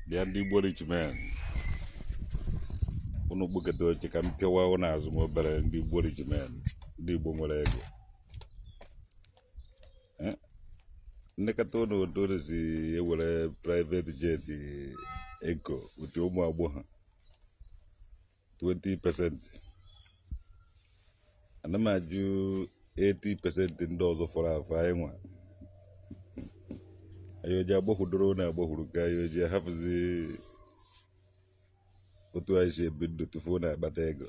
bịa ndị Igbo rich men unu bukete oche ka m pịawa ụnụ azụ m obere ndị Igbo rich men ndị Igbo nwere ego Eh? m lekata ụnụ otu unu si ewere private jet ego ụtụ ụmụ agbọghọ 20 percent ana m ajụ 80 percent ndị ọzọ fọrọ afọ anyị nwa anyị ọ ja-agbakwudoro na agbakwuru ka anyị ọ ja-ahapụzi otu anyị si ebi ndụ tupu unu akpata ego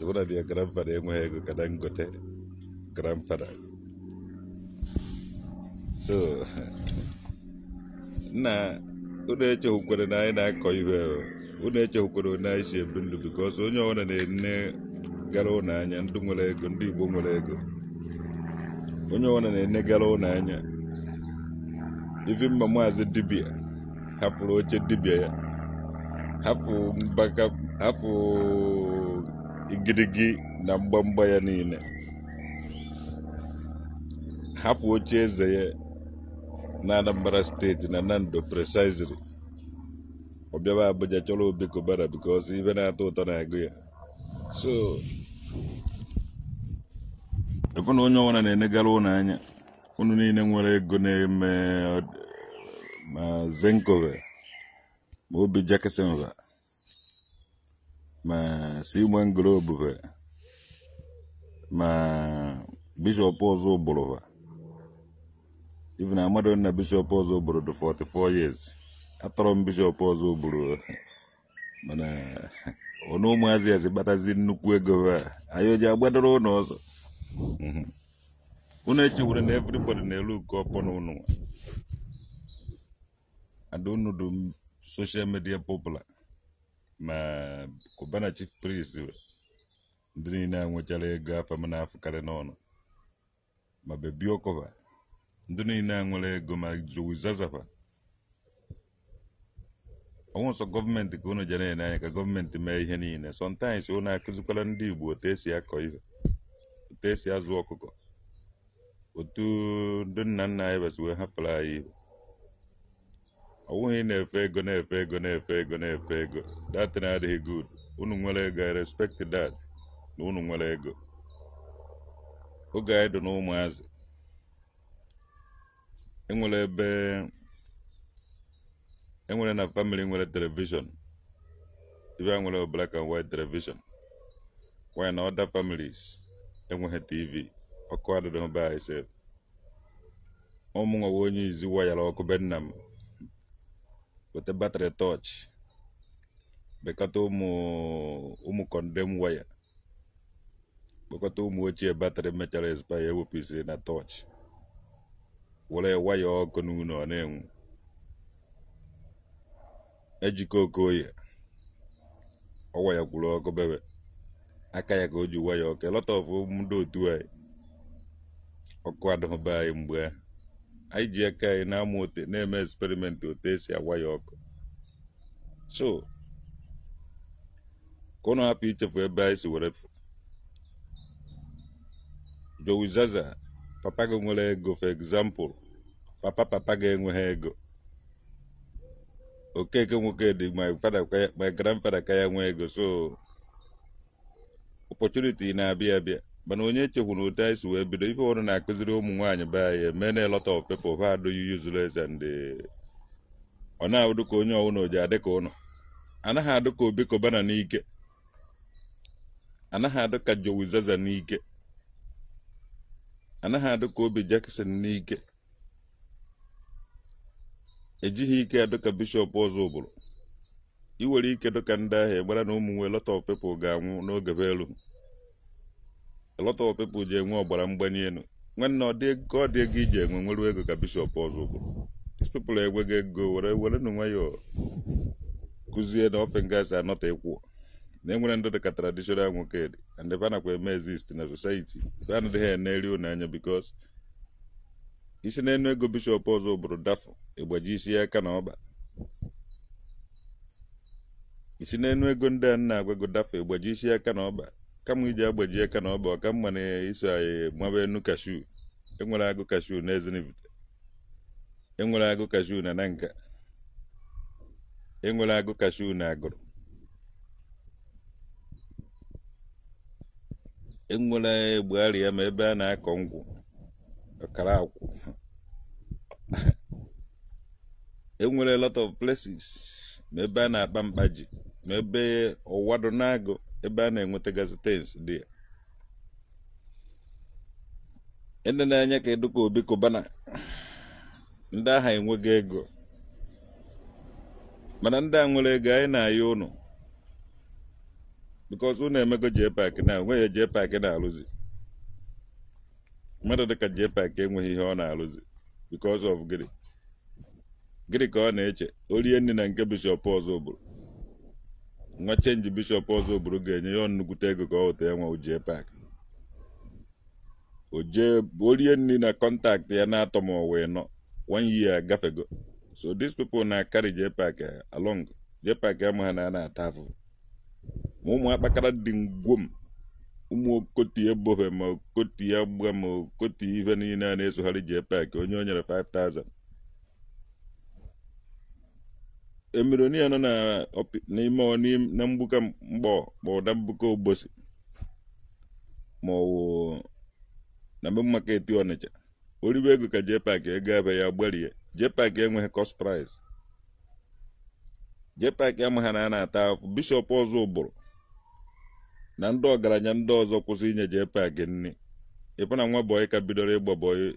even na their grandfather enweghị ego ka Dangote grandfather so na unu echehukwere na anyị na-akọ ife unu echehukwere na anyị si ebi ndụ because onye ọbụla na-enegara unu anya ndị nwere ego ndị igbo nwere ego onye ọbụla na-enegara unu anya ive mere maazị dibia hapụrụ oche dibịa ya hapụ mbaka hapụ igirigi na mgbamgba ya niile hapụ oche eze ya na Anambra State na Nando precisely ọ bịaba Abuja chọrọ Obi Cubana because ive na-atọ ụtọ na-agụ ya so ekwe na onye ọbụla na-enegara unu anya unu niile nwere ego na-eme ma Zenco ve ma Obi Jackson ve ma Simon Globe ve ma Bishop Ozubulu va even amado na Bishop Ozubulu dị 44 years atọrọ m Bishop Ozubulu mana unu ụmụazị a si kpatazi nnukwu ego a anyị ọ ja-agbadoro unu ọsọ Mhm. unu echewere na everybody na-elu nke ọpọ na ụnụ ada unu dụ social media popular ma Cubana Chief Priest ndị niile a nwechara ego afa va na-afụkarị n'ọnụ ma Baby Oku va ndị niile a nwere ego ma Jowizaza va ọ wụ sọ government ka unu ja na-ene anya ka government mee ihe niile sometimes unu akụzikwara ndị igbo otu e si akọ ihe otu e si azụ ọkụkọ otu ndị nna nna anyị va si wee hapụrụ anyị igbo ọ bụghị ị na-efe ego na-efe ego na-efe ego na-efe ego that na adịghị good unu nwere ego i respect that na unu nwere ego oge anyị dị n'ụmụazị enwere ebe enwere na family nwere television ibe a nwere black and white television while na other families enweghị tv ọkụ adịdịghị be anyị sef ọ mụnwa bụ onye izi wayara ọkụ be nna m weta battery torch bekọta ụmụ ụmụ condemn wire kpọkọta ụmụ ochie battery mechara expire ewepụsiri na torch were waya ọkụ n'ụlọ ọ na-enwu ejike okoye ọ wayakwuru ọkụ bebe aka ya ka o ji waya ọkụ a lot of ndị otu anyị ọkụ adịghị be anyị mgbe ahụ anyị ji aka anyị na-amụ otu a na-eme experiment otu esi awaya ọkụ so ka unu hapụ ichefu ebe anyị si were fụ jowizaza papa gị nwere ego for example papa papa gị enweghị ego okeke nwokedi my father ka ya- my grandfather ka ya nwee ego so opportunity na-abịa abịa mana onye echefuna otu anyị si wee bido ife ọrụ na-akụziri ụmụ nwaanyị be anyị mee na a lot of people ha adụghị useless and eh, ọ na-adụ ka onye ọwụna ọ ji adị ka unu anaghị adụ ka obi cubana n'ike anaghị adụ ka jowizaza n'ike anaghị adụ ka obi jackson n'ike ejighị ike dịka bishop ọzụbụrụ ị nwere ike dịka ndị ahụ egbara na ụmụ nwee a lot of people ga-anwụ n'oge be elu a lot of people ji enwe ọbara mgbali elu nwanne ọ dị ego ọ dị ego iji enwe nwere ego ka bishop ọzụbụrụ these people enweghị ego were were na nwayọọ kụzie na ofe ngasị anọta ịkwụ na enwere ndị dịka traditional nwokedi and ebe a nakwa eme exist na society ebe a na-adịghị eneri unu anya because i si n'enu ego bishop ọzụbụrụ dafụ ị gbajisia aka na ọkpa i si n'enu ego ndị a na-agwa gị dafụ ị gbajisia aka na ọkpa kama ị ji agbaji aka na ọkpa ọ ka mma na i so anyị maba enu cashew enwere agụ cashew na ezinifite enwere agụ cashew na nanka enwere agụ cashew na agụrụ enwere egbugharịa ma ebe a na-akọ nkwụ ọkara akwụ enwere lot of places ma ebe a na-akpa mkpa ji ma ebe ọwado na-agụ ebe a na-enwetagasị things dị ya ndị na-enye ka dị ka Obi Cubana ndị ahụ enweghị ego mana ndị a nwere ego anyị na-ayọ ụnụ because unu emego JPAC na onweghị JPAC na-arụzi mmadụ dịka JPAC enweghị ihe ọ na-arụzi because of gịnị gịnị ka ọ na-eche o rie nri na nke bishọp Ọzụbụlụ nwa chenji bishọp Ọzụbụlụ ga-enye ya nnukwute ego ka ọ wụta ya nwa JPAC o jee o rie nri na kọntaktị ya na atọ ma ọ wụ anọ one year agafego so these people na-acarry JPAC along JPAC amaghị na a na-ata afụfụ ma ụmụ akpakara dị ngwom ụmụ okoti ebobe ma okoti agba ma okoti ife niile a na-esogharị JPAC onye o nyere 5000 millionaire nọ na ọpi- n'ime ọ- n'im- na mgbuka Nkpọr na mgbuka Obosi ma ọ wụ na Main Market Ọnịcha o ribe ego ka JPAC ego ebe ya gbarie JPAC enweghị cost price JPAC amaghị na a na-ata afụ bishọp Ọzụbụlụ na ndị ọgaranya ndị ọzọ kwụsị inye JPAC nri ịbụ na nwa bọyị ka bidoro ịgba bọyị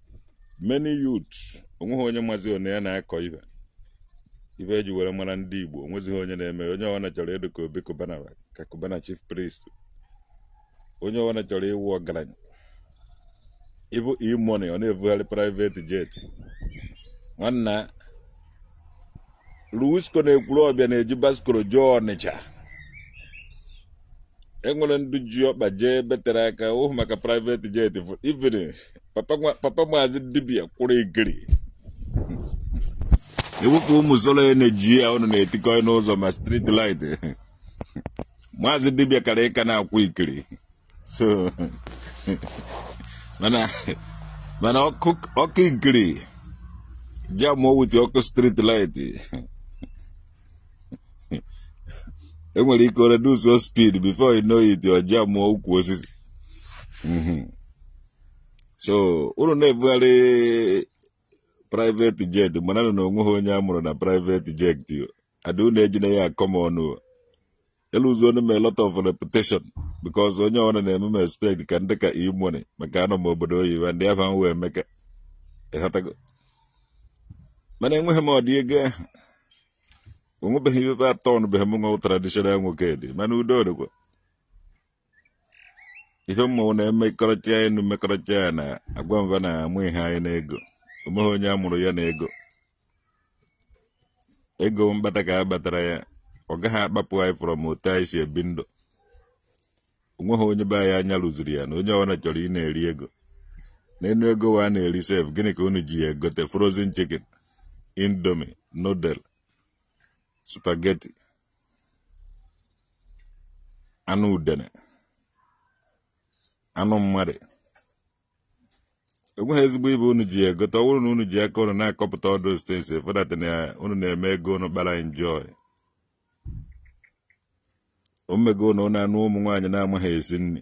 many youth onweghị onye mazi ọnwa a na-akọ ihe ihe e ji were mara ndị Igbo onwezighị onye na-eme onye ọbụla chọrọ ịdị ka Obi Cubana ka Cubana chief priest onye ọbụla chọrọ ịwụ ọgaranya ịbụ E-Money ọ na-ebugharị private jet nwanna Luisco na Ekwulọbịa na-eji bicycle jee Ọnịcha enwere ndị ji ọkpa jee betere aka ohu maka private jet even papa maazị dibia kwụrụ ikiri ewepụ ụmụ solar energy a ụnụ na-etikọ n'ụzọ ma street light maazị dibia kara ịka na-akwụ ikiri so mana mana ọkụ ọkụ ikiri jam wuti ọkụ street light i nwere ike reduce your speed before you know it you jam ukwu osisi Mhm. so unu na-ebugharị private jet mana na onweghị onye a mụrụ na private jet yo ada unu ejina ya akọ m ọnụ o. eluzuona m a lot of reputation because onye ọbụla na-eme m expect ka m dị ka E-Money maka anọ m obodo oyibo and afa m wụ Emeka ịghọtago mana enweghị m ụdị ego ahụ onwebeghị ebe atọ ọnụbeghị m nwa traditional Nwokedi mana udo dịkwa ife ọma unu na-emekọrịta ya unu mekọrịta ya na agwa m ba na amụghị anyị n'ego onweghị onye amụrụ ya na ego ego mkpata ka a kpatara ya ọ gaghị akpapụ anyị from otu anyị si ebi ndụ onweghị onye be anyị anya ruziri ya ana onye ọbụla chọrọ ị na-eri ego n'enu ego wa a na-eri sef gịnị ka unu ji ya egote frozen chicken indomie noodle spaghetti anụ udene anụ mmadụ enweghị ezigbo ibe unu ji egote ọ bụrụ na unu ji aka unu na-akọpụta ọ dụ straightforward that na unu na-eme ego unu kpara enjoy o mego unu na-anụ ụmụ nwaanyị na-amaghị esi nri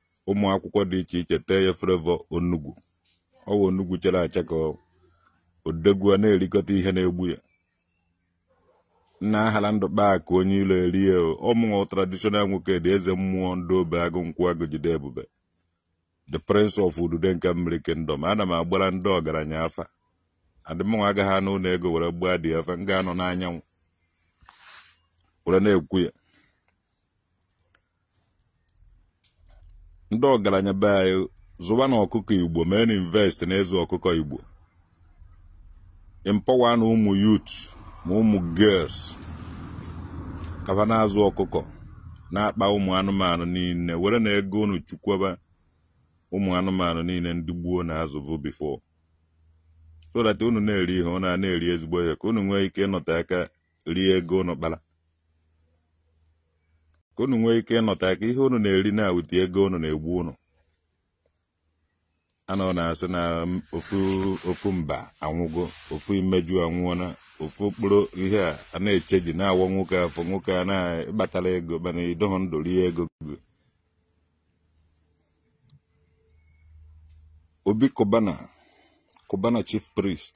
ụmụ akwụkwọ dị iche iche tee ya flavour onugbu ọ wụ onugbu chara acha ka ọ dị egwu a na-erikọta ihe na-egbu ya nna ahala ndụ kpaa akụ onye ilo erie ọ mụ wụ traditional Nwokedi eze mmụọ ndị obe agụ nkwụ agụ jide ebube the prince of udude nke mmiri kingdom ana m agbara ndị ọgaranya afa and mụnwa agaghị anọ ụlọ ego were gbaa the afa m ga-anọ n'anyanwụ were na-ekwu ya ndị ọgaranya be anyị zụba na ọkụkọ igbo mee na invest na ịzụ ọkụkọ igbo empower na ụmụ youth ma ụmụ girls ka ba na-azụ ọkụkọ na-akpa ụmụ anụmanụ niile were na ego unu chukwaba ụmụ anụmanụ niile ndị gboo na-azụbu before so that unu na-eri ihe unu na-eri ezigbo ihe ka unu nwee ike ịnọta aka rie ego unu kpara ka unu nwee ike ịnọta aka ihe unu na-eri na with ego unu na-egbu unu a nọ na-asị na ofu mba anwụgo ofu imeju anwụọna ofu okporo ihe a a na-echeji n'awọ nwoke afọ nwoke a na ị kpatara ego mana ị dụghọ ndụ rie ego gị Obi Cubana Cubana Chief Priest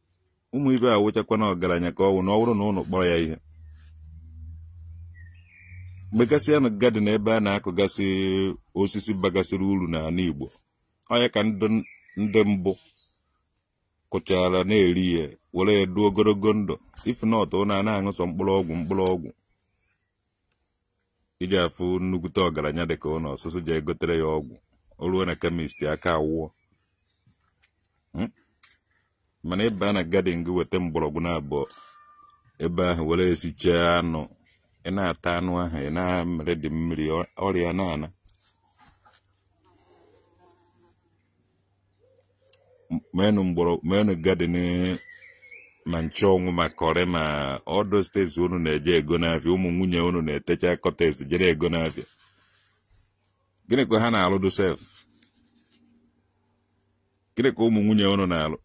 ụmụ ibe a wụchakwana ọgaranya ka ọ wụ na ọ bụrụ na unu kpọrọ ya ihe megasịanụ garden ebe a na-akụgasị osisi bagasịrị uru n'ala Igbo ọ ya ka ndị mbụ kụchara na-eri ya were ya dụọ ogologo ndụ if not unu na-aṅụ sọ mkpụrụ ọgwụ mkpụrụ ọgwụ ị ga-afụ nnukwute ọgaranya dị ka unu ọ sị sị jee gotere ya ọgwụ o ruo na kemist aka awụọ Hmm? mana ị baa na gadin gị weta mgbọrọgwụ naabọ ebe ahụ were sichaa anụ ị na-ata anụ ahụ ị na-amere dị mmiri ọ- ọrịa na-ana meenụ mgbọrọ meenụ gadin ma nchanwụ ma kọrị ma all those things unu na-eje ego n'afịa ụmụ nwunye unu na-etecha kọtes je ego n'afịa gịnị ka ha na-alụdụ sef gịnị ka ụmụ nwunye unu na-alụ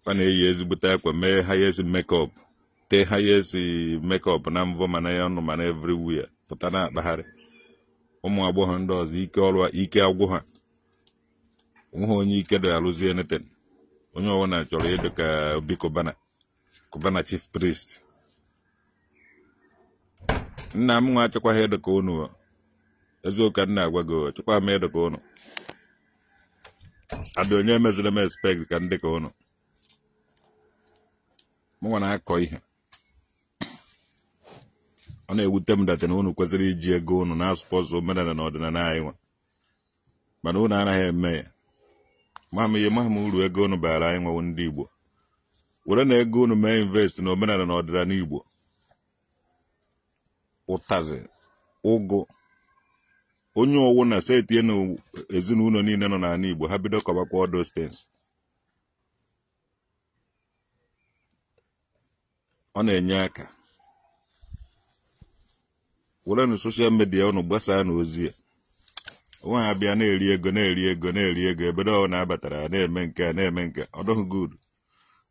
ha na-eyi ezigbote akwa mee highest mekọp tee highest mekọp na mvọ ma n'ọnụ ma na everywhere pụta na-akpagharị ụmụ agbọghọ ndị ọzọ ike ọrụ ike agwụ ha o nweghị onye ike dị alụzi anything onye ọbụla chọrọ ịdị ka Obi Cubana Cubana chief priest nna mụnwa achọkwaghị ịdị ka unu eziokwu ka m na-agwa gị achọkwa m ịdị ka unu adị onye meziri m expect ka m dị ka unu mụnwa na-akọ ihe a ọ na-ewute m die na unu kwesịrị iji ego unu na-asupport omenala na ọdịnala anyị nwa mana unu anaghị eme ya ma m ihe amaghị m uru ego unu baara anyị nwa wụ ndị Igbo werenụ ego unu mee invest na omenala na ọdịnala Igbo ụtazị ụgụ onye ọwụna setie na ezinụlọ niile nọ n'ala Igbo ha bido kọbakwa all those things ọ na-enye aka werenụ soshal midia unu gbasaanụ ozi a ọ wụghị a bịa na-eri ego na-eri ego na-eri ego ebe dough na-abatara na-eme nke a na-eme nke ọ dịghị good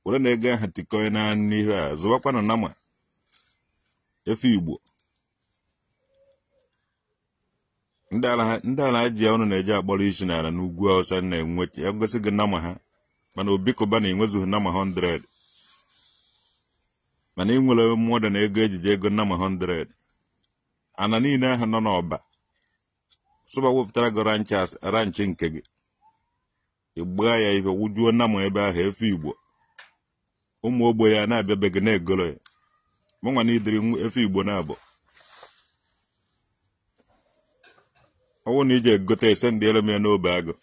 werenụ ego ahụ tikọọnụ n'ihe a zụwakwanụ nama efi Igbo ndị alaha- ndị alahaji unu na-eje akpọrọ isi n'ala n'ugwu Awụsa nwere ike igosi gị nama ha mana Obi Cubana enwezughị nama 100 mana ị nwere mmadụ na ego e ji eje ego nama 100 ana niile ahụ nọ n'Ọba sụba wepụtara gị ranch ranch nke gị ị gbaa ya ife wụjuo nama ebe ahụ efi Igbo ụmụ ogbenye na-abịa be gị na-egoro ya mụnwa needịrị efi Igbo naabọ ọ wụ na i je egote ese ndị elu m ya n'obe agụ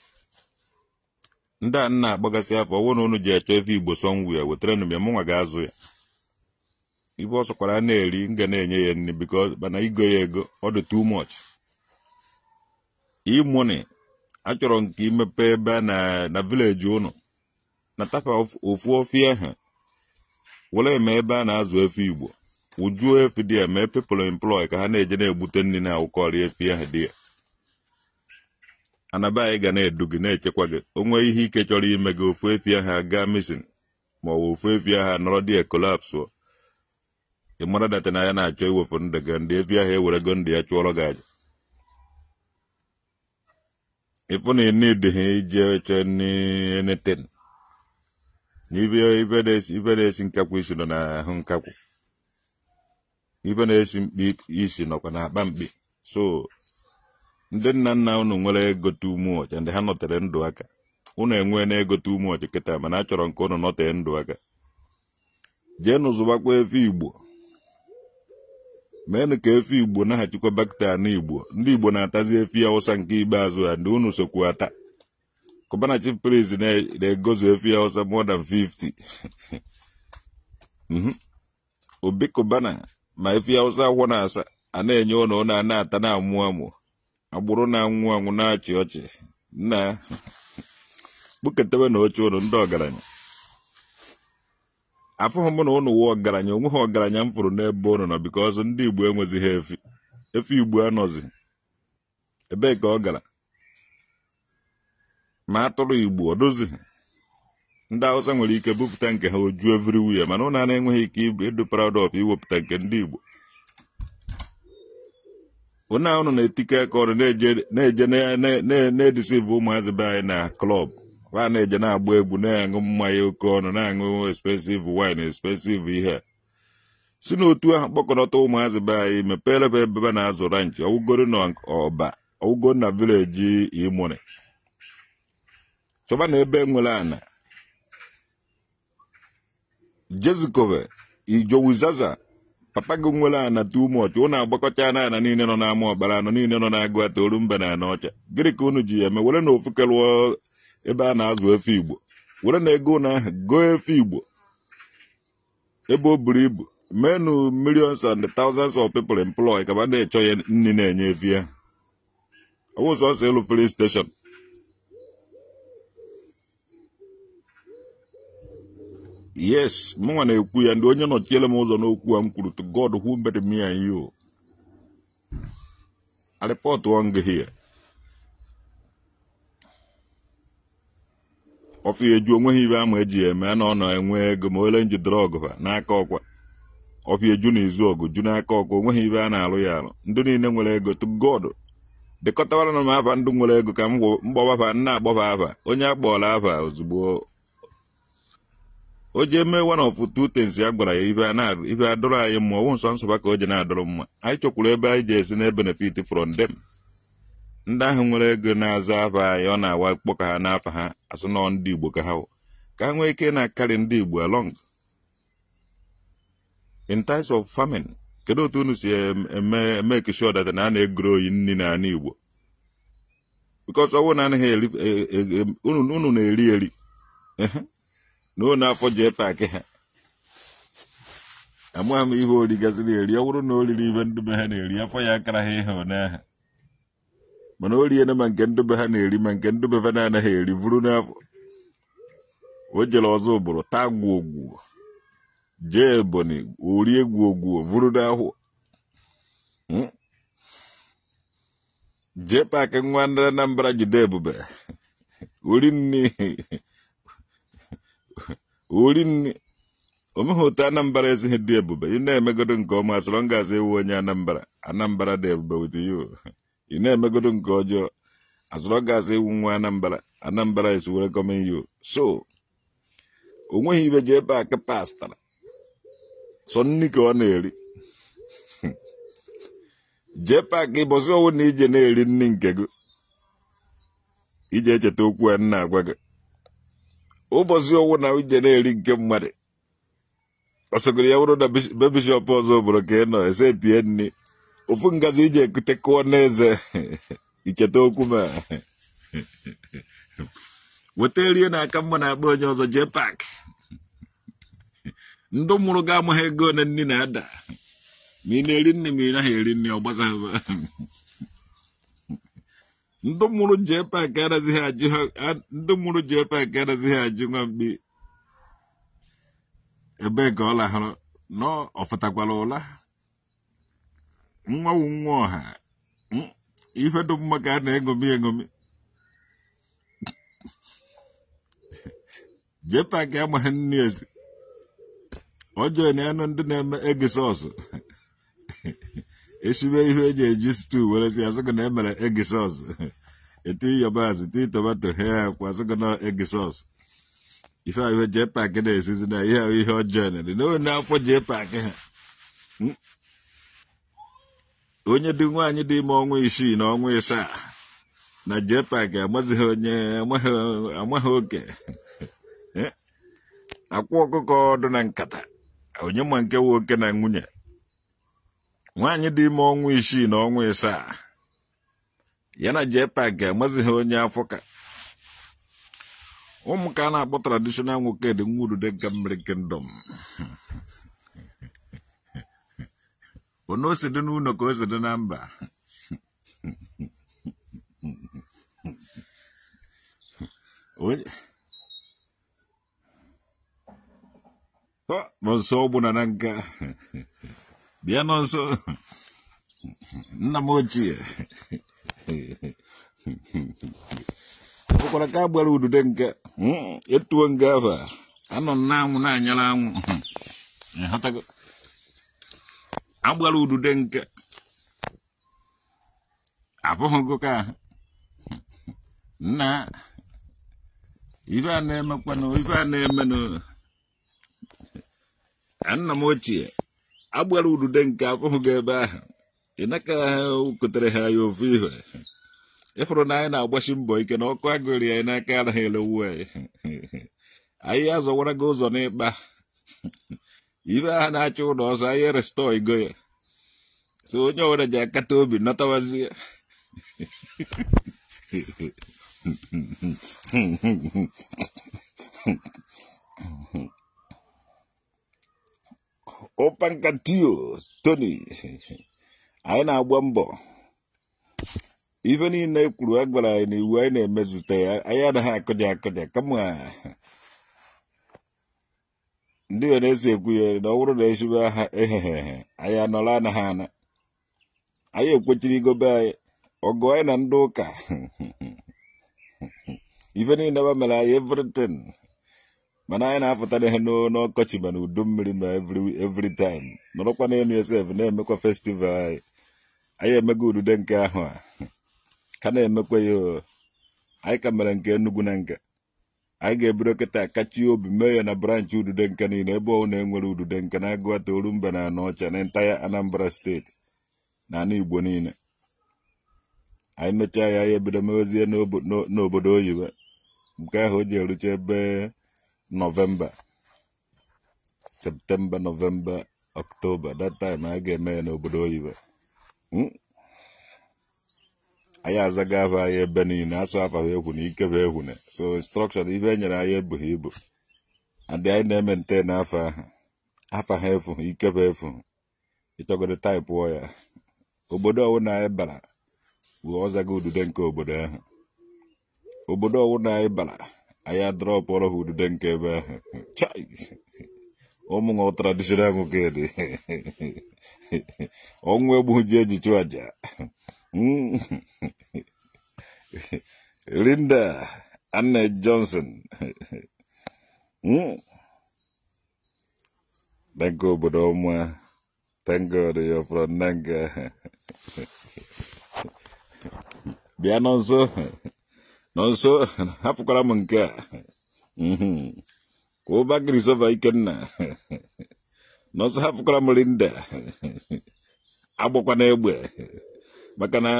ndị a na-akpagasị afọ ọ wụ na unu je achọ efi Igbo sọ ngwu ya wetaranụ m ya mụnwa ga-azụ ya ive ọ sọkwara na-eri m ga na-enye ya nri because mana igo ya ego ọ dị too much e-money achọrọ m ka i mepee ebe a na na village ụnụ nata fa ofu ọfịa ahụ were mee ebe a na-azụ efi igbo wujuo efi there mee people employ ka ha na-eje na-egbute nri na-awụkọrị efi ahụ there ana be anyị ga na-edu gị na-echekwa gị o nwee ihe ike chọrọ ime gị ofu efi ahụ agaa missing ma ọ bụ ofu efi ahụ anọrọ there collapse ị mara that na ya na-achọ iwefu ndụ gị the efi ahụ ewerego ndụ ya chụọrọ gị aja ị fụ na ị needighị ije chọọ anything ive na-esi nkakwụ isi nọ n'ahụ nkakwụ ive na-esi mkpi isi nọkwa na akpa mkpi so ndị nna nna unu nwere ego too much ndị ha nọtere ndụ aka unu enwena ego too much kịta mana achọrọ m ka unu nọtee ndụ aka jeenụ zụbakwa efi igbo meenụ ka efi igbo naghachikwa back to ana igbo ndị igbo na-atazi efi awụsa nke ikpeazụ ya ndị unu sokwu ata cubana chief priest na-egozi efi awụsa more than 50 obi cubana ma efi awụsa afọ na-asa a na-enye ụnụ ụnụ ana-ata na-amụ amụ agbụrụ na-anwụ anwụ na-achị ọchị na kpụketebe na uche ụnụ ndị ọgaranya afụghị m na ụnụ wụ ọgaranya o nweghị ọgaranya m fụrụ n'ebe ụnụ nọ because ndị igbo enwezighị efi efi igbo anọzi ebee ka ọ gara ma atụrụ igbo ọ dịzighị ndị awụsa nwere ike bupụta nke ha o ju everywhere mana ụnụ na-enweghị ike ịbụ ịdụ proud of iwepụta nke ndị igbo ụna ụnụ na-etikọ aka ọnụ na-eje na-edeceive ụmụazị be anyị na club ha na-eje na-agba egwu na-aṅụ mmanya oke ọnụ na-aṅụ expensive wine expensive ihe si n'otu ahụ kpọkọrọta ụmụazị be anyị meperenụ ebe a na-azụ ranch ọwụgoro na ọba ọwụgoro na village e-money chọba na ebe nwere ana jezikwa be jowizaza papa gị nwere ana too much ụnụ agbakọchana ana niile nọ n'anambra ana niile nọ n'aguata orumba na anaọcha gịnị ka unu ji ya eme werenụ ofu kelụọ ebe a na-azụ efi igbo werenụ ego ụnụ ahụ goo efi igbo ebe o buru ibu meenụ millions and thousands of people employ ka fa na-achọ ya nri na-enye efi ya ọ wụ sọsọ ịlụ filling station yes mụnwa na-ekwu ya ndị onye nọchiere m ụzọ n'okwu a m kwuru to God who made me and you I report one gị here ọfụ ya eju onweghị ibe ama eji ya eme na ọ na-enwe ego ma ole nji drọg ha n'aka ọkwa ọfụ ya eju na izu ọgụ ju n'aka ọkwa onweghị ibe a na-alụ ya alụ ndị niile nwere ego to God dịkọtawara na m afa ndị nwere ego ka m gbawafa nna agbọfa afa onye akpọọla afa ozugbo o jee mee one of two things ya gwara ya ibe a na- ibe adụrụ anyị mma ọwụ nsọ nsọba ka o je na-adụrụ mma anyị chọkwuru ebe anyị je esi na-ebenefit from them ndị ahụ nwere ego na-aza afa anyị ọ na-awa kpọ ka ha n'afa ha asị na ọ ndị igbo ka ha wụ ka ha nwee ike na-acarry ndị igbo along in times of famine kedu otu unu si emake sure that na a na-egrow nri n'ala Igbo because ọwụ na anaghị eri e, e, e, unu na-eri eri na unu afọ JPAC ha amaghị m ihe o rigasịrị eri ọ bụrụ na o riri ibe ndị be ha na-eri afọ ya akara ha ihe ụnyaahụ mana o riena ma nke ndị be ha na-eri ma nke ndị be ha na-anaghị eri vuru n'afọ o jere Ọzụbụlụ taa gwogwuo jee ebonyi o rie gwogwuo vuru n'ahụ Hmm? JPAC nwa ndị anambra ji dị ebube ori nni ori nni o nweghị otu anambra esighị dị ebube ị na-emegodo nke ọma so long as ị wụ onye anambra anambra dị ebube with you ị na-emegodo nke ọjọọ as long as ị wụ nwa anambra anambra is welcoming you so o nweghị ibe JPAC pastara sọ nri ka ọ na-eri JPAC ụbọsị ọ wụna i je na-eri nri nke gị i je echeta okwu a m na-agwa gị ụbọchị ọ wụna i je na-eri nke mmadụ ọ sọgoro ya wụrụ na bish- be bishọp Ọzụbụlụ ka ị nọ e setie nri ofu ngazi i je ekute kụọ n'eze i cheta okwu m a weta rie na-aka mma n'akpa onye ọzọ JPAC ndị mụrụ gị amaghị ego ole nri na-ada ma ị na-eri nri ma ị naghị eri nri ọ gbasaghị ndị mụrụ JPAC anazighị ajụ ha a- ndị mụrụ JPAC anazighị ajụ nwa mgbe ebee ka ọ lahụrụ na ọ fụtakwara ụla nwa wụ nwa ọha Mm, ife dị mma ka a na-eṅomi eṅomi JPAC amaghị nri esi ọjọọ ị na-anụ ndị na-eme egusi soup esibe ihe eji esi stew were sie asị gị na emere egusi soup eti yabasị tii tomato he kwa asị gị na egusi soup ife ahụ ihe JPAC na-esizi na ihe ahụ ihe ọjọọ na dị n'ime n'afọ JPAC ha onye dị nwaanyị dị ime ọnwa isii na ọnwa ịsaa na JPAC amazighị onye amaghị oke eh? akwa ọkụkọ dụ na nkata onye ma nke wụ oke na nwunye nwaanyị dị ime ọnwa isii na ọnwa ịsaa ya na JPAC amazighị onye afọ ka ọ mụ ka a na-akpọ traditional Nwokedi nwa Ududenka mmiri kingdom ono o si dị n'ụlọ ka o si dị na mba onye Ọ, nọ nso ọ bụ na Nanka bịa nọ nso nna m ochie ọ bụkwara ka a gbara Ududenka Mm, etuo nga ahụ a nọ n'anwụ na-anyara anwụ ịghọtago a gbara Ududenka afụghị gị ka ahụ nna ife a na-emekwanụ ife a na-emenụ nna m ochie a gbara Ududenka afụhụ gị ebe ahụ ị naka kotere ha ya ofu ihe ị fụrụ na anyị na-agbasi mbọ ike na ọkụ agụrị anyị n'aka anaghị elewu anyị anyị azọwara gị ụzọ n'ikpa ibe ahụ na-achọ ụlọ ọzọ anyị restorego ya so onye ọbụla ji akata obi natawazie ụpankatio tony anyị na-agba mbọ ife niile e kwuru a gwara anyị n'iwu anyị na-emezute ya anyị anaghị akụja akụja kama ndị ya na-esi ekwu ya na ọ bụrụ na e sibe ha ehehehe anyị anọrọ anaghị ana anyị kwechiri igobe anyị ọgụ anyị na ndị ụka ife niile ba mere anyị everything mana anyị na-apụtara ihe n'o- n'ọkọchị ma n'udu mmiri ma every every time nọrọkwa n'elu esef na-emekwa festival anyị anyị emego Ududenka a ka na-emekwa ya o. anyị ka mere nke Enugu na nke anyị ga-ebido kịta kachie obi mee ya na branch Ududenka niile ebe ọbụla e nwere Ududenka n'Aguata Orumba na Anaocha na entire Anambra State na ala Igbo niile anyị mechaa ya anyị ebido mewezie n'obodo oyibo nke ahụ o ji erucha ebe November September November October that time a ga-eme ya n'obodo oyibo anyị azaga afa anyị ebe niile asụ afa ha efuna ikebe efuna so instruction ife enyere anyị ebughị ibu and anyị na-ementen afa ahụ afa ha efu ha ikebe efu ha ịchọgodo taịpụọ ya obodo ọwụna anyị bara bụ ọzaga udude nke obodo ahụ obodo ọwụna anyị bara anyị adrọpụrụ ha udude nke ebe ahụ chai ụmụnwa traditional nwoke dị ọnwụ egbu ji eji chụ aja Linda Anne Johnson Nanka obodo ọma Thank God you're from Nanka. Bịa Nonso Nonso hapụkwara m nke a Okafor Christopher Ikenna Nonso hapụkwara m Linda agbakwana egbe maka na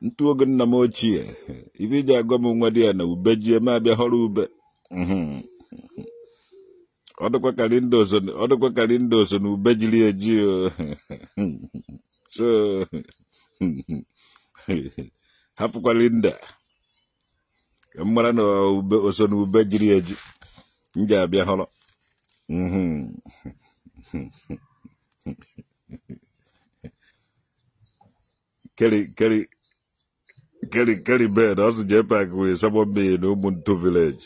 ntu oge nna m ochie ife e ji agwa m nwadiana ube jie m abịa họrọ ube ọ dịkwa ka Linda ọ dịkwa ka Linda so na ube jiri eji o. so hapụkwa Linda ka m mara na ube o so na ube jiri eji m ji abịa họrọ Mhm. keri bed ọ sị JPAC wee sabọ mmiri na Ụmụntu village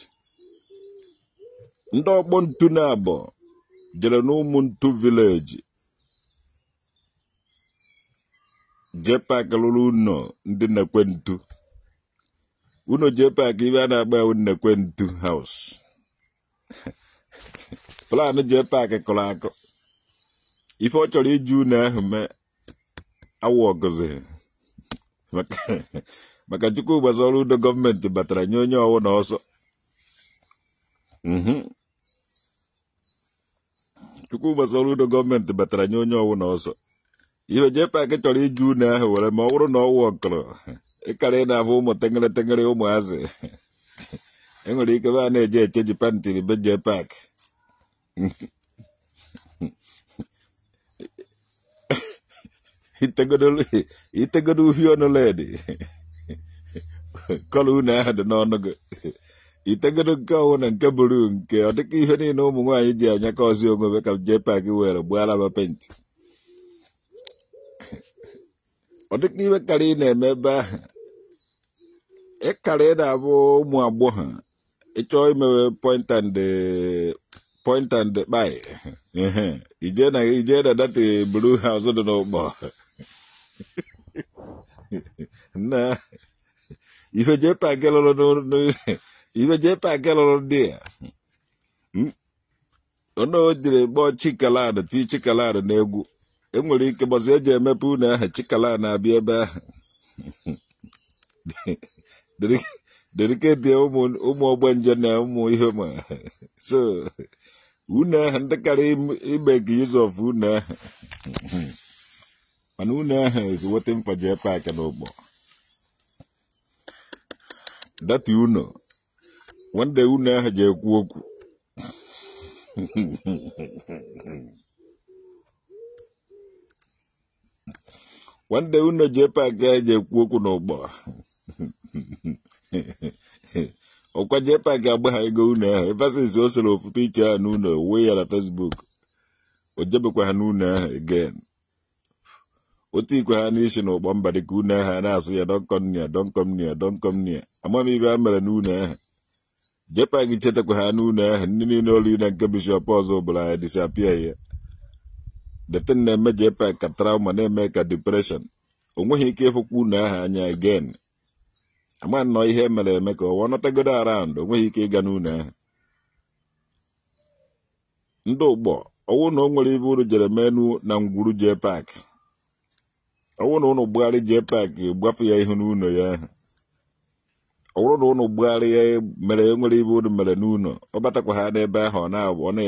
ndị ọkpọ ntu nabọ jere n'Ụmụntu village JPAC rụrụ ụnọ ndị nnekwu ntu ụnọ JPAC ife a na-akpọ ya nnekwu ntu house plan JPAC kụrụ akụ ife ọ chọrọ iji ụnọ ahụ mee awụ ọgụzi maka Chukwuma Soludo gọọmenti batara nye onye ọwụna ọsọ mhm. Chukwuma Soludo gọọmenti batara nye onye ọwụna ọsọ ife JPAC chọrọ iji ụnọ ahụ were ma ọ bụrụ na ọwụ ọkọrọ ịkara ị na-afụ ụmụ tengere tengere ụmụazị enwere ikebe a na-eje echenji pantiri be JPAC itegodo uhie ọnụ red colour unu ahụ dị n'ọnụ gị itegodo nke ọwụna nke blue nke ọ dịka ihe niile ụmụ nwaanyị ji anya ka ọzi onwe ka JPAC were gbuo alaba paint ọ dịka ihe karị ị na-eme ebe ahụ ịkarị na-afụ ụmụ agbọghọ ịchọọ imewe point and eh, point and kpai ije na ije na dati blue house dị n'ụkpọ na ife JPAC lụrụ ife JPAC lụrụ dị ya ụnọ o jiri kpọọ chikalan ti chikalan n'egwu enwere ike ụbọsị eji emepe ụnọ ahụ chikalan na-abịa ebe ahụ dediketi ụmụ ọgbanje na ụmụ ihe ma so ụnọ ahụ ndị karị imake use of ụnọ ahụ mana ụnọ ahụ is waiting for JPAC n'ụkpọ dati ụnọ one day ụnọ ahụ ji ekwu okwu one day ụnọ JPAC ahụ ji ekwu okwu n'ụkpọ ọkwa JPAC agbaha ịga ụnọ ahụ ever since o sere ofu picha ahụ n'ụnọ wee ya na fesbuk o jebekwaha n'ụnọ ahụ again o tiikwahanụ isi na ụkpọ mba dịka ụnọ ahụ na-asụ ya don't come near don't come near don't come near ama m ibe a mere n'ụnọ ahụ JPAC echetakwaha n'ụnọ ahụ ndị niile olu na nke bishọp ọzụbụlụ ya disapia ya detin na-eme JPAC ka trauma na-eme ka depression o nweghị ike ịfụkwa ụnọ ahụ anya again ama nnọọ ihe e mere eme ka ọwa nọtagodo around o nweghị ike ịga n'ụnọ ahụ ndị ụkpọ ọwụ na o nwere ibe unu jere menu na ngwuru JPAC ọwụ na unu gbugharị JPAC gbafe ya ihu n'ụnọ ya ahụ ọ bụrụ na unu gbugharị ya mere enwere ibe unu mere n'ụnọ ọ batakwaha n'ebe ahụ ọ na-abụ ọ na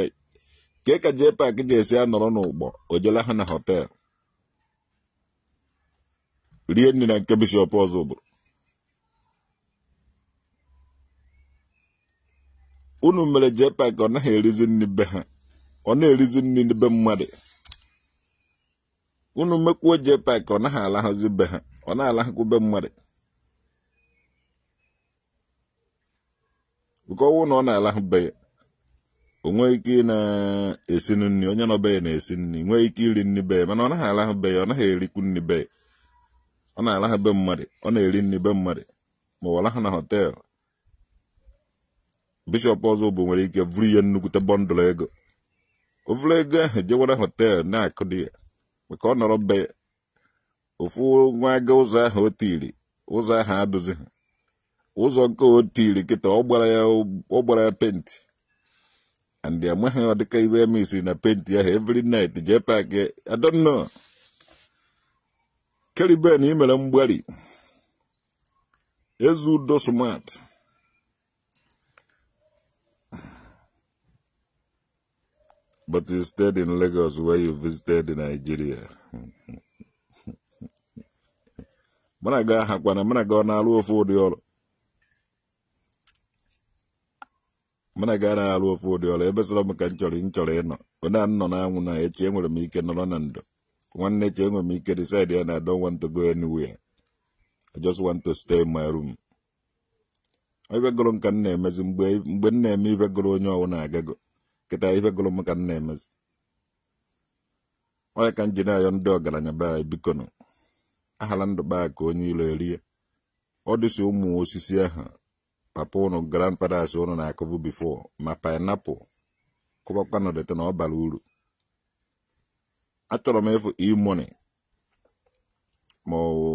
ka ka JPAC ji esi anọrọ n'ụkpọ o je lahụ na họtel rie nri na nke bishọp ọzụbụlụ unu mere JPAC ọ naghị erizi nri be ha ọ na-erizi nri be mmadụ unu mekwuo JPAC ọ naghị alahụzi be ha ọ na-alahụkwu be mmadụ bụ ka ọwụ na ọ na-alahụ be ya o nwee ike ị na-esi nri onye nọ be ya na-esi nri nwee ike iri nri be ya mana ọ naghị alahụ be ya ọ naghị erikwu nri be ya ọ na-alahụ be mmadụ ọ na-eri nri be mmadụ ma ọ lahụ na họteelụ bishọp ọzụbụlụ nwere ike vụrụ ihe nnukwute bọndụl ego o vụrụ ego ahụ jewara họteelụ na-akụ dị ya maka ọ nọrọ be ya ofu nwa aga ụzọ ahụ o tiri ụzọ ahụ adụzi ha ụzọ nke o tiri kịta ọ gbara ya penti and ya amaghị ọ dịka ibe emesiri na penti ahụ every night jee pak ya I don't know keriben i mere mgbari Eziudo smart But you stayed in Lagos where you visited Nigeria. Mana ga ha kwana mana ga na-alụ ofu ụdị ọlụ. Mana ga na-alụ ofu ụdị ọlụ ebe sọlọ m ka m chọrị ịnọ. Ọ na m nọ na anwụ na echi enwere m ike nọrọ na ndo. Nwanne echi enwere m ike decide ya na I don't want to go anywhere. I just want to stay in my room. ive gụrụ m ka m na-emezi mgbe m na-eme ive gụrụ onye ọwụna agago kịta ive gụrụ m ka m na-emezi ọ ya ka m ji na-ayọ ndị ọgaranya be anyị biko nụ ahala ndụ be anyị ka onye ilo erie ọ dịsị ụmụ osisi ahụ papa ụnụ grandfathers ụnụ na-akụbụ before ma pineapple kụbakwanụ the thing ọ bara uru achọrọ m ịfụ E-Money ma ọ wụ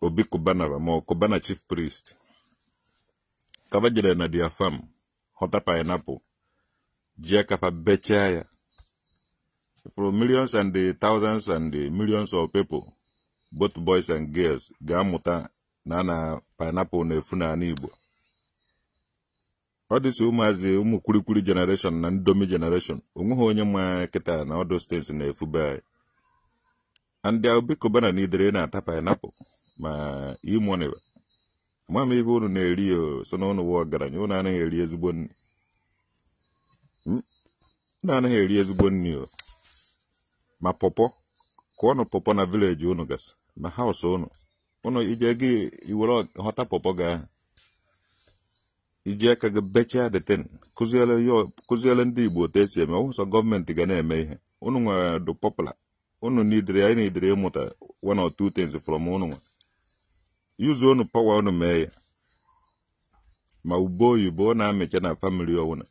Obi Cubana ba ma ọ Cubana Chief Priest ka ba jere na their farm ghọta pineapple jie aka fa bechaa ya for millions and thousands and millions of people both boys and girls ga-amụta na na pineapple na-efu n'ala Igbo ọ dịsị ụmụazị ụmụ kulikuli generation na Indomie generation onweghị onye ma kịta na ọdụ steeti na-efu be anyị and Obi Cubana needịrị na-ata pineapple ma E-Money ba ama m ive unu na-eri ya sọ na ụnụ wụ ọgaranya ụnụ anaghị eri ezigbo nri o ma pọpọ kụọnụ pọpọ na village ụnụ gasị na house ụnụ ụnụ i jee gị ewere ghọta pọpọ gị ahụ i ji aka gị bechaa the thing kụziere ndị Igbo otu esi eme ọ sọ government ga na-eme ihe ụnụ nwa dụ popular ụnụ needịrị anyị needịrị ịmụta one or two things from ụnụ nwa use ụnụ power ụnụ mee ya ma ube oyibo ọ na-amịcha na family ọwụna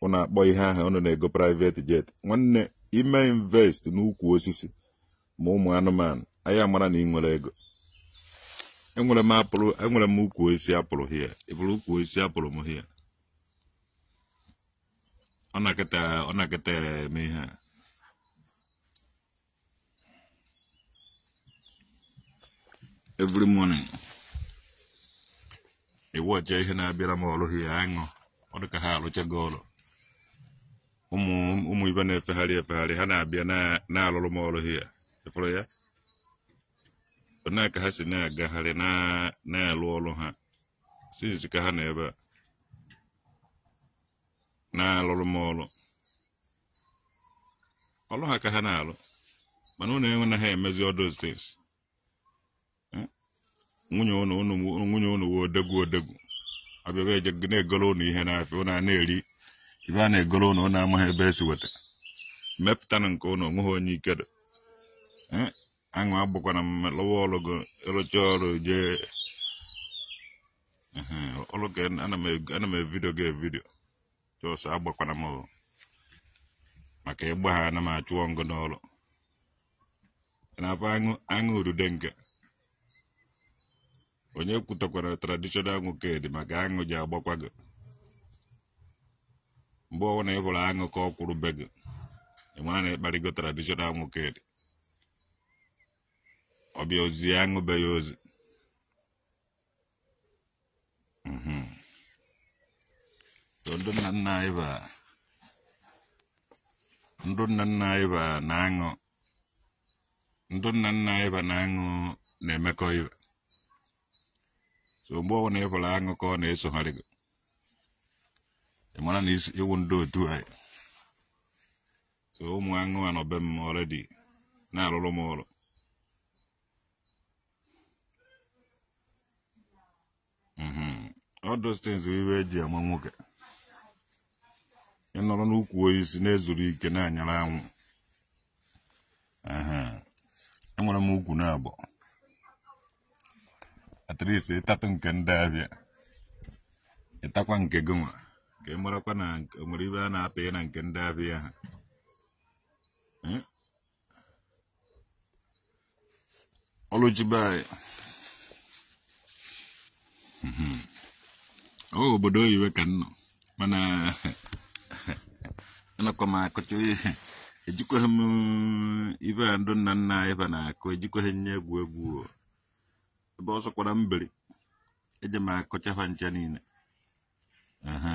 ụnụ hapụ ihe ahụ ụnụ na-ego private jet nwanne i mee invest n'ukwu osisi ma ụmụ anụmanụ anyị amara na ị nwere ego enwere m apple enwere m ukwu osisi apple here ị fụrụ ukwu osisi apple m here ọ na-akịta ọ na-akịta eme ihe a every morning iwu ọcha ihe na-abịara m ọrụ here aṅụ ọ dị ka ha alụchago ọrụ ụmụ ibe a na-efegharị efegharị ha na-abịa na-alụrụ m ọrụ here ị fụrụ ya onye ka ha si na-agagharị na- na-alụ ọrụ ha since ka ha nọ ebe a na-alụrụ m ọrụ ọrụ ha ka ha na-alụ mana ụnụ enwe na ha emezi all those things Eh? nwunye ụnụ ụnụ nwunye ụnụ wụ odogwu odogwu abịaba eje na-egoro ụnụ ihe n'afịa ụnụ a na-eri ibe a na-egoro ụnụ ụnụ amaghị ebe e si weta mepụtanụ nke ụnụ o nweghị onye ike dị Eh? aṅụ agbakwana m lụwa ọrụ gị ị rụchaa ọrụ jee ọlụ ka ana m evidio gị evidio just agbakwana m maka ị gbahana m achụọ m gị n'ọrụ ị na-afụ aṅụ urude nke onye kwutakwara traditional nwoke dị maka aṅụ je agbakwa gị mgbe ọ wụna ị hụrụ aṅụ ka ọ kwụrụ be gị ị mara na ị kparịgo traditional nwoke dị ọ bịa ozi aṅụ bịa ozi Mhm. So ndị nna nna anyị ba ndị nna nna anyị ba na aṅụ ndị nna nna anyị ba na aṅụ na-emekọ ibe so mgbe ọbụla ị fụrụ aṅụ ka ọ na-esogharị gị ị mara na ị wụ ndị otu anyị so ụmụ aṅụ anọ be m already na-alụrụ m ọrụ Mhm. all those things wụ ibe e ji ama nwoke ị nọrọ n'ukwu osisi na-ezuru ike na-anyara anwụ Ehe. enwere m ukwu naabọ at least ị tatụ nke ndị ahịa ị takwa nke gị nwa ka ị marakwa na o nwere ibe a na-apịa na nke ndị ahịa ha Eh? Ọlụ ji be anyị. Mhm. Ọ obodo oyibo ka m nọ mana anakwa m akọcha ejikwaghị m ibe a ndụ nna nna anyị ba na-akụ ejikwaghị ya egwu egwu o. ebe ọ sọkwara m biri eje m akọcha ha ncha niile aha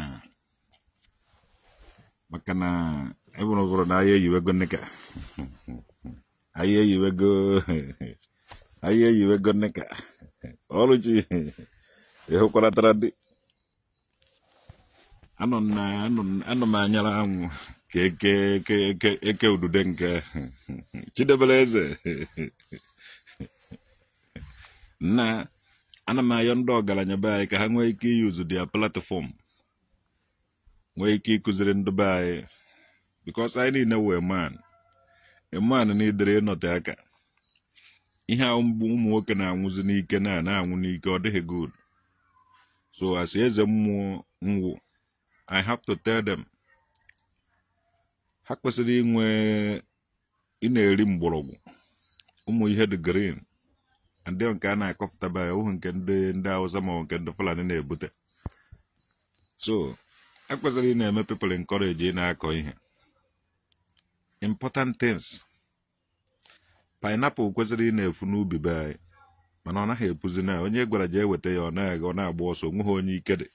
maka na ebụrụ gụrụ na anyị eyiwego Nneka anyị eyiwego Nneka Oluchi ịhụkwaratara dị anọ m na anọ m- anọ m anyara anwụ ka eke eke udude nke Chidiebere Eze na ana m ayọ ndị ọgaranya be anyị ka ha nwee ike iyuzu their platform nwee ike ịkụziri ndị be anyị because anyị niile women and men needịrị ịnọte aka ihe a ụmụ nwoke na-anwụzi n'ike na na-anwụ n'ike ọ dịghị good so as eze mmụọ m wụ i have to tell them ha kwesịrị inwe ị na-eri mgbọrọgwụ ụmụ ihe dị green and then nke a na-akọpụtaba ya ọ bụghị nke ndị Hausa ma nke ndị Fulani na-ebute so e kwesịrị ị na-eme people encourage ị na-akọ ihe important things pineapple kwesịrị ị na-efu n'ubi be anyị mana ọ naghị epuzi na onye gwara jee weta ya ọ na-agba ọsọ onweghị onye ike dị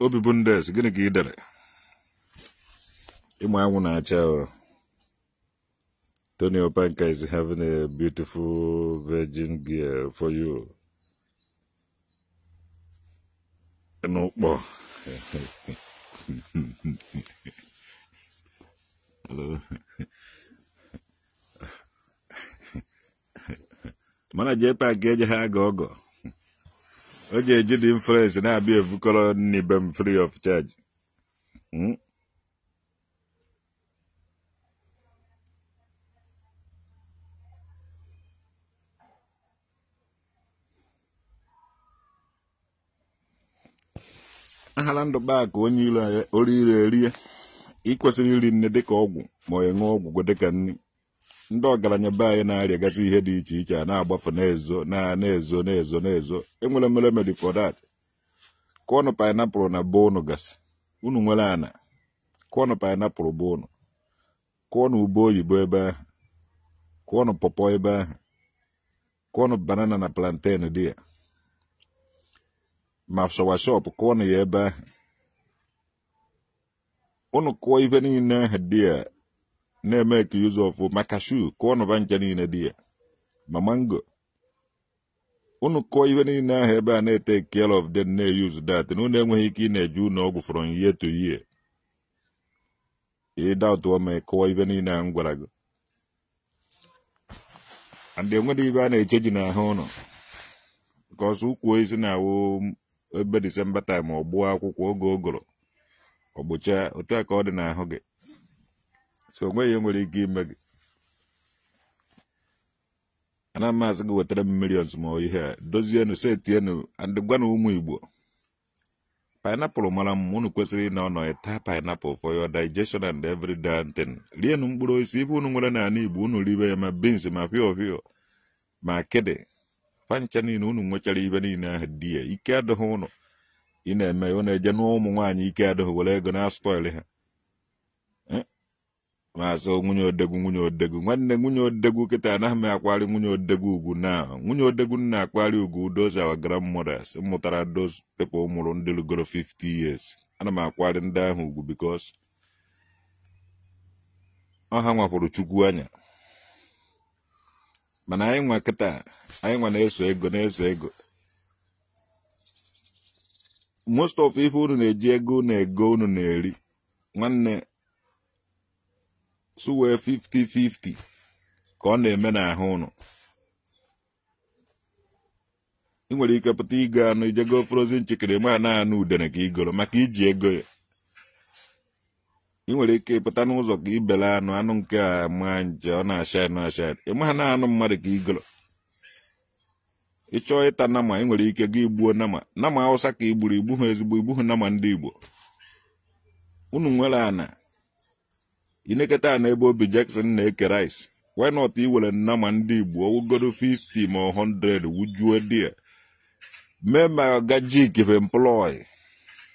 obi bụ ndị eze gịnị ka ị dere ịma anwụ na-acha Tony Opanka is having a beautiful virgin girl for you n'Ukpo mana jee paakị eje ha aga ọgọ o ji eji the influence na-abịa evukọrọ nri be m free of charge Hmm? ahara ndụ baa ka onye iro anyị ori ire erie ị kwesịrị iri nri dịka ọgwụ ma ị ṅụọ ọgwụ dịka nri ndị ọgaranya be anyị na-arịagasị ihe dị iche iche a na-agbafu na-ezo enwere m remedy for that kụọnụ pineapple na be unu gasị unu nwere ana kụọnụ pineapple be unu kụọnụ ube oyibo ebe ahụ kụọnụ pọpọ ebe ahụ kụọnụ banana na plantain dị ya ma soursop kụọnụ ya ebe ahụ unu kụọ ife niile ahụ dị ya na-emake use of ma cashew kụọnụ va ncha niile dị ya ma mango unu kụọ ife niile ahụ ebe a na-etake care of them na-eyuzu that na unu enweghị ike ị na-eje ụnọ ọgwụ from year to year ị doubtụọ m kụọ ife niile ahụ m gwara gị and enwedị ibe a na-echeji n'ahụ unu because ukwu osisi na-awụ ebe December time ọ gbuo akwụkwọ oge ụgụrụ ọ gbuchaa otu a ka ọ dị n'ahụ gị so onweghị ihe nwere ike ime gị ana m asị gị wetara m millions ma ihe a dozienu setienu and gwanụ ụmụ igbo pineapple mara mma unu kwesịrị ịna ọnọ ịta pineapple for your digestion and every damn thing rienu mkpụrụ osisi ife unu nwere n'ala igbo unu ribe ya ma beans ma fiofio ma akịdị pancha niile unu nwechara ibe niile ahụ dị ya ike adịghị unu ị na-eme unu eje n'ụmụ nwaanyị ike adịghị were ego na-aspoil ha maazị nwunye odogwu nwunye odogwu nwanne nwunye odogwu kịta anaghị m akwari nwunye odogwu ugwu na nwunye odogwu m na-akwari ugwu those our grandmothers mụtara those people mụrụ ndị lụgoro 50 years ana m akwari ndị ahụ ugwu because ọ ha nwapụrụ chukwu anya mana anyị nwa kịta anyị nwa na-eso ego na-eso ego most of ife unu na-eji ego unu ego unu na-eri nwanne suwe 50-50 ka ọ na-eme n'ahụ unu ị nwere ike pụta igo anụ i je go frozen chicken ịma na anụ udene ka i goro maka i ji ego ya ị nwere ike ịpụta n'ụzọ ka i bele anụ anụ nke a ma nje ọ na-acha anụ acha ịma na anụ mmadụ ka i goro ị chọọ ịta nama ị nwere ike gị gbuo nama nama awụsa ka i gburu i gbuha ezigbo i gbuha nama ndị igbo unu nwere ana i neketa anya ebe obi Jackson na-eke rice why not i were nama ndị Igbo ọ wụgodu 50 ma 100 wujuo there mee ma gajik be employ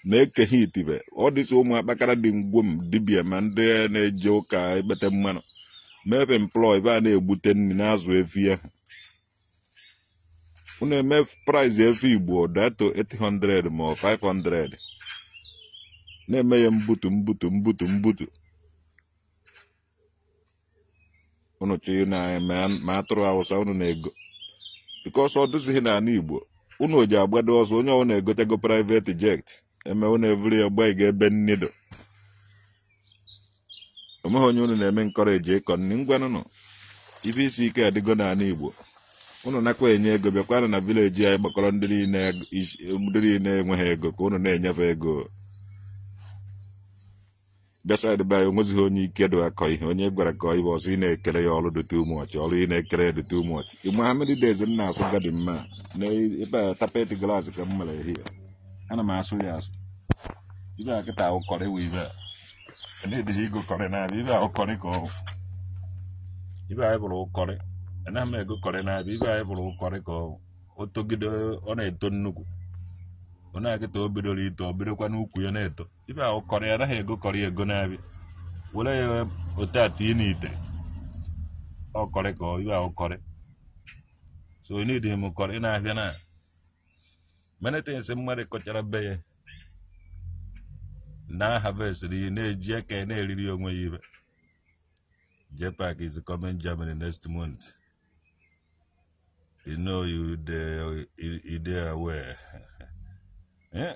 na-eke ha itibe ọ dịsị ụmụ akpakara dị ngwo m dibia ma ndị na-eje ụka ekpete mmanụ mee be employ be a na-egbute nri na-azụ efi ahụ unu eme price efi igbo datuo 800 ma 500 na-eme ya mbutu mbutu mbutu mbutu unu chọọ nama ma atụrụ awụsa unu na-ego because ọ dụzighị n'ala igbo unu ji agbado ọsọ onye ọbụla egotego private jet eme unu evuru ya gbaga ebe nne do onweghị onye unu na-eme encourage ịkọ nri ngwanụnụ ife isi ike adịgo n'ala igbo unu nakwa enye ego bịakwanụ na village anyị gbakọrọ ndị niile enweghị ego ka unu na-enyefe ego beside be anyị onwezighị onye ike dị akọ ihe onye gwara ka ibe ọsọ ị na-ekele ya ọrụ dị too much ọrụ ị na-ekele ya dị too much ị ma how many days m na-asụ garden m a na ebe a carpet grass ka m mere here ana m asụ ya asụ ife a kịta ọ curry wụ ife a anadịghị ego curry n'afịa ife a ọ curry ka ọ wụ ife anyị bụrụ curry anaghị m ego curry n'afịa ife anyị bụrụ curry ka ọ wụ o togide ọ na-eto nnukwu ọ na kịta o bidoro ito ọ bidokwa n'ukwu ya na-eto ife a wụ curry anaghị ego curry ego n'afịa were ya ote atọ ị n'ite ọ curry ka ife a wụ curry so ị n'idi m curry n'afịa na many things mmadụ kọchara be ya na harvestri ihe na-eji aka ya na-eriri onwe ya ife JPAC is coming Germany next month you know you dey you dey aware. yeah.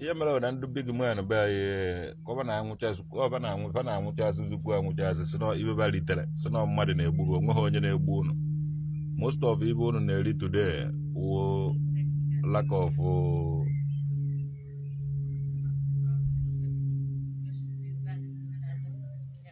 ihe mere bụ na ndị big man be anyị ka fa na-anwụchazị ka fa na-anwụ fa na-anwụchazị zukwu anwụchazị si na ife fa ritere sị na mmadụ na-egbu gị onweghị onye na-egbu unu most of ife unu na-eri today wụ lack of uh,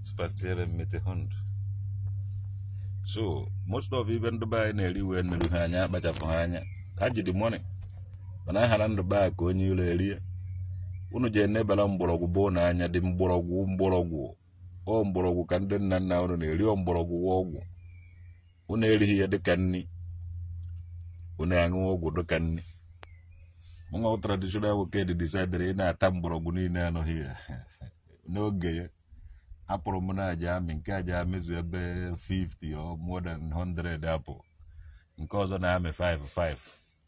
spazieren mit dem Hund. So, most of ife ndị be anyị na-eri wee nuru ha anya akpachapụ ha anya. Ha ji the money. Mana ha na ndụ baa ka onye ụlọ erie. Unu je nebara mgbọrọgwụ bụ na anya dị mgbọrọgwụ mgbọrọgwụ. Ọ mgbọrọgwụ ka ndị nna nna unu na-eri ọ mgbọrọgwụ wụ ọgwụ. Unu erighị ya dịka nri. Unu aṅụ ọgwụ dịka nri. Mụnwa traditional nwoke dị decidere ị na-ata mgbọrọgwụ niile a n'ọfịa. n'oge ya apple m na a ja-amị nke a ja-amịzu ife 50 or more than 100 apple nke ọzọ na-amị 5 5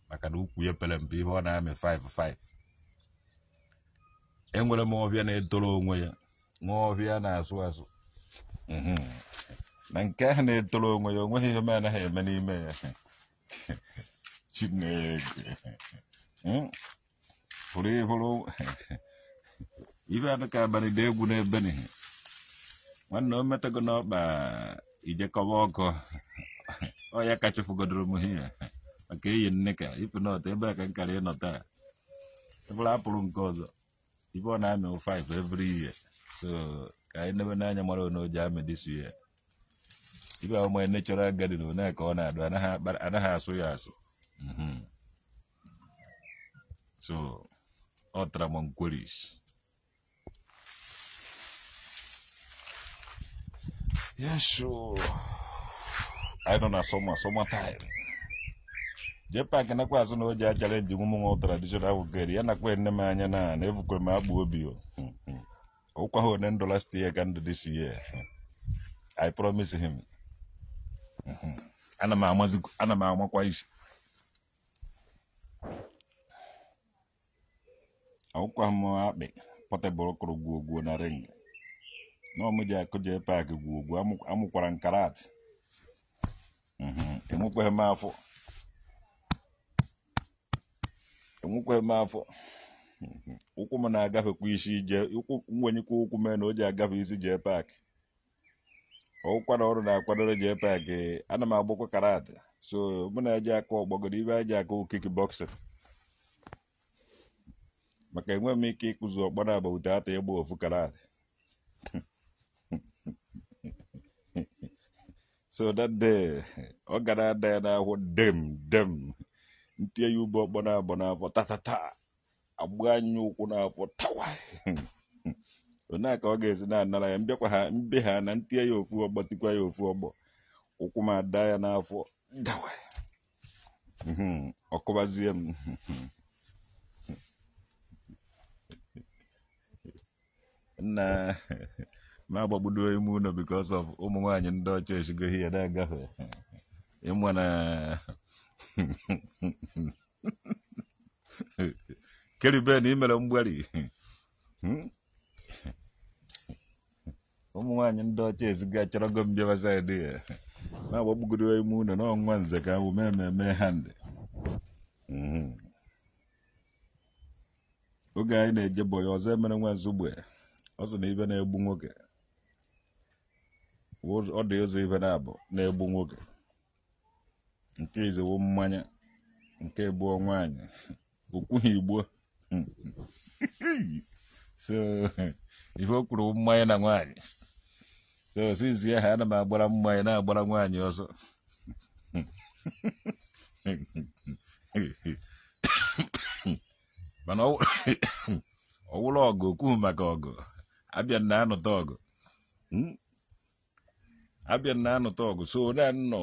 maka na ukwu ya pere mpe ihe ọ na-amị 5 5 enwere m ọfịa na-etoro onwe ya nwee ọfịa na-asụ asụ mhm. na nke ahụ na-etoro onwe ya onweghị ihe m anaghị eme n'ime ya chineke hmm? pụrụ ị fụrụ ife anụ ka abalị dị egwu n'ebe n'ihe nwanne o metago n'ọkpa ị ja-akọba ọkọ ọ ya ka chụfụgodoro m ihe maka eyi nne ka ife nọta ebe a ka nkara ịnọta ị fụla apple nke ọzọ ife ọ na-amị 5 every year so ka anyị newe n'anya mara one ọ ja-amị this year ebe a wụ my natural garden one ka ọ na-adụ anaghị akpa- anaghị asụ ya asụ Mhm. so ọ tara m nkweris yesu anyị nọ na summer summer time JPAC nakwa azụ na o ji achallenge ụmụ nwa traditional ahụ gere ya nakwa nne m anya na na evukwe m agbụ obi ọ wụkwa ha na end of last year ka end of this year i promise him ana m amazi- ana m amakwa isi awụkwaghị m Akpị Portable kụrụ gwuo gwuo na ring na ọ mụ ja-akụ JPAC gwuo gwuo amụ- amụkwara m karat Mhm, enwekwaghị m afọ enwekwaghị m afọ ụkwụ m na-agafekwa isi jee ụkwụ m wenyekwa ụkwụ m enu ọ ja-agafe isi JPAC ọ wụkwa na ọrụ na-akwadoro JPAC ana m agbakwa karat so mụ na eji aka ọgbọgoro ibe eji aka kick boxing maka enwe m ike ịkụzi ọkpọ n'agba ute ata ịgba ofu karat so that day ọ ga na-ada ya n'ahụ dem dem m tie ya ọkpọ ọkpọ naabọ n'afọ tatata agbanye ya ụkwụ n'afọ tawa onye ka ọ ga-esi na-anara ya m bịakwa ha m bịa na m tie ya ofu ọkpọ tikwa ya ofu ọkpọ ụkwụ m ada ya n'afọ dawa ọ kụbazie m nna na-agbagbudo ime ụlọ because of ụmụ nwaanyị ndị ọcha esigo ihe na-agafe ị ma na Caribbean e mere mgbari hmm? ụmụ nwaanyị ndị ọcha eziga achọrọgo m bịaba side ya na-agbagbugodo ime ụlọ n'ọnwa nze ka ahụ mee mmemme ha ndị oge anyị na-eje boy Ozoemena nwa Nsugbe ọ sị na ife na-egbu nwoke ọ dị ụzọ ife naabọ na-egbu nwoke nke izi wụ mmanya nke abụọ nwaanyị o kwughị igbo so ife o kwuru wụ mmanya na nwaanyị so since ahụ ana m agbara mmanya na-agbara nwaanyị ọsọ mana ọ wụrụ ọgụ o kwughị maka ọgụ abịa na anụta ọgụ abịa na anụta ọgụ so na nnọọ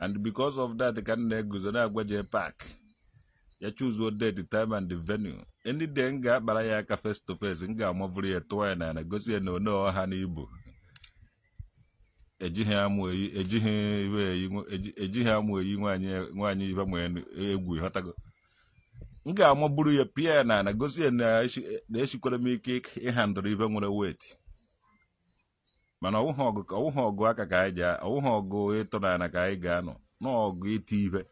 and because of that ka m na-eguzo na-agwa jee park ya chuzuo date time and venue any day m ga-akpara ya aka face to face m ga-amaburu ya tụọ ya n'ala gosi ya na one ọha na ibu ejighị amụ eyi ejighị iwe eyi nwa- eji- ejighị amụ eyi nwaanyị nwaanyị ibe ma egwu ịghọtago m ga-amaburu ya pịa ya n'ala gosi ya na eshi- na eshikwara m ike ịhandụrụ ihe nwere weight mana ọwụghị ọgụ ka ọwụghị ọgụ aka ka anyị ji ọwụghị ọgụ ịtụ n'ala ka anyị ga-anụ ọ ọgụ iti ihe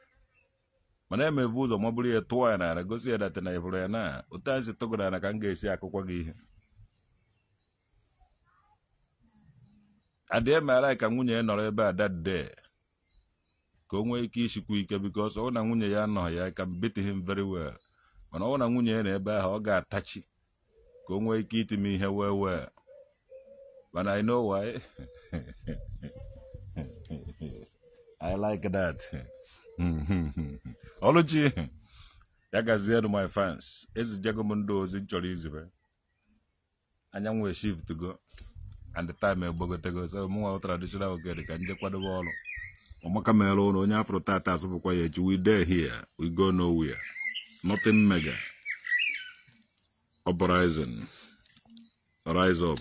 mana m evu ụzọ maburu ya tụọ ya n'ala gosi ya that na ị hụrụ ya na otu a m si tụọ gị n'ala ka m ga-esi akụkwa gị ihe I demand ka nwunye nọrọ ebe a that day ka o nwee ike ishikwu ike because ọ wụ na nwunye ya anọghị ya I can beat him very well mana ọ wụ na nwunye ya nọ ebe ahụ ọ ga-atachi ka o nwee ike iti m ihe well well but I know why I like that ọlụchi ya gazienụ my fans ezichago m ndị ozi m chọrọ izibe anyanwụ eshiftugo and time egbogotego so mụnwa traditional okere ka m jee kwadobe ọrụ ọ maka mere ụlọ onye afụrọ taata asụpụkwa ya echi we dey here we go nowhere nothing mega uprising rise up